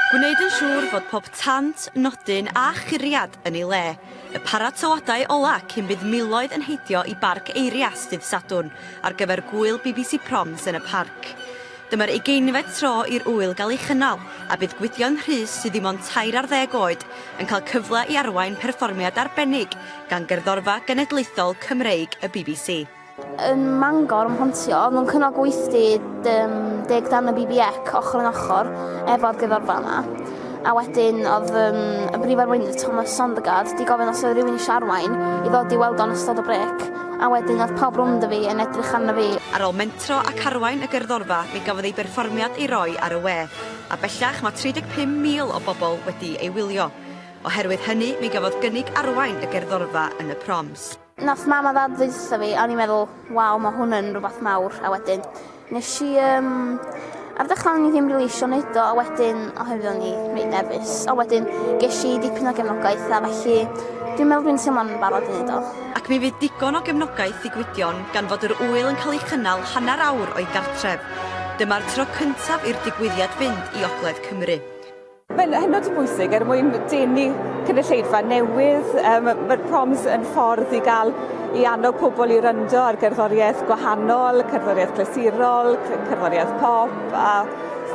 Gwneud yn siŵr fod pob tant, nodyn a churiad yn ei le. Y paratoadau ola cyn bydd miloedd yn heidio i Barc Eirias dydd Sadwrn ar gyfer gwyl bbc Proms yn y parc. Dyma'r ugeinfed tro i'r ŵyl gael ei chynnal a bydd Gwydion Rhys sydd ddim ond tair ar ddeg oed yn cael cyfle i arwain perfformiad arbennig gan Gerddorfa Genedlaethol Cymreig y bbc. Yn Mangor, ym Mhontio, mewn cynnal gweithdy um, deg dan y BBEC ochr yn ochr efo'r gyfarfa yma. A wedyn oedd um, y brif arweinydd Thomas Sondergaard di gofyn os oedd rhywun eisiau arwain i ddod i weld o'n ystod o brec. A wedyn oedd pawb rwnd y fi yn edrych arno fi. Ar ôl mentro ac arwain y gerddorfa, mi gafodd ei berfformiad ei roi ar y we, a bellach mae 35,000 o bobl wedi ei wylio. Oherwydd hynny, mi gafodd gynnig arwain y gerddorfa yn y proms. Nath mam a dad ddeusa fi a o'n i'n meddwl waw ma' hwn yn rwbath mawr a wedyn nesh i yym ar ddechra o'n i ddim rili isio neud o a wedyn oherwydd o'n i reit nerfus a wedyn gesh i dipyn o gefnogaeth a felly dwi'n meddwl dwi'n teimlo'n barod i neud o. Ac mi fydd digon o gefnogaeth i Gwydion gan fod yr ŵyl yn cael ei chynnal hanner awr o'i gartref. Dyma'r tro cyntaf i'r digwyddiad fynd i ogledd Cymru. Mae'n hynod o bwysig er mwyn denu cynulleidfa newydd. Um, Mae'r proms yn ffordd i gael i annog pobl i ryndo ar gerddoriaeth gwahanol, cerddoriaeth glasurol, cerddoriaeth pop a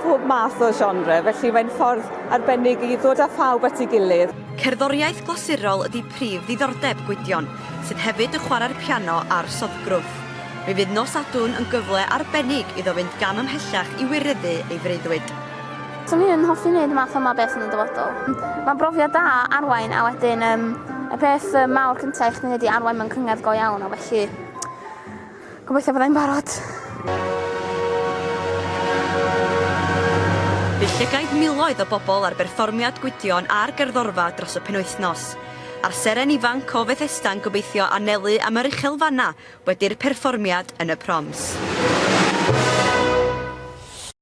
phob math o genre, felly mae'n ffordd arbennig i ddod â phawb at ei gilydd. Cerddoriaeth glasurol ydy prif ddiddordeb Gwydion, sydd hefyd yn chwarae'r piano a'r soddgrwth. Mi fydd nos Sadwrn yn gyfle arbennig iddo fynd gam ymhellach i wireddu ei freuddwyd. Swn i yn hoffi wneud y math yma beth yn y dyfodol. Mae'n brofiad da arwain a wedyn um, y peth um, mawr cyntaf i chdi wneud i arwain mewn cyngor go iawn a felly gobeithio byddai'n barod. Fe llygaid miloedd o bobl ar berfformiad Gwydion a'r gerddorfa dros y penwythnos. A'r seren ifanc o Fethesda yn gobeithio anelu am yr uchel fanna wedi'r perfformiad yn y proms.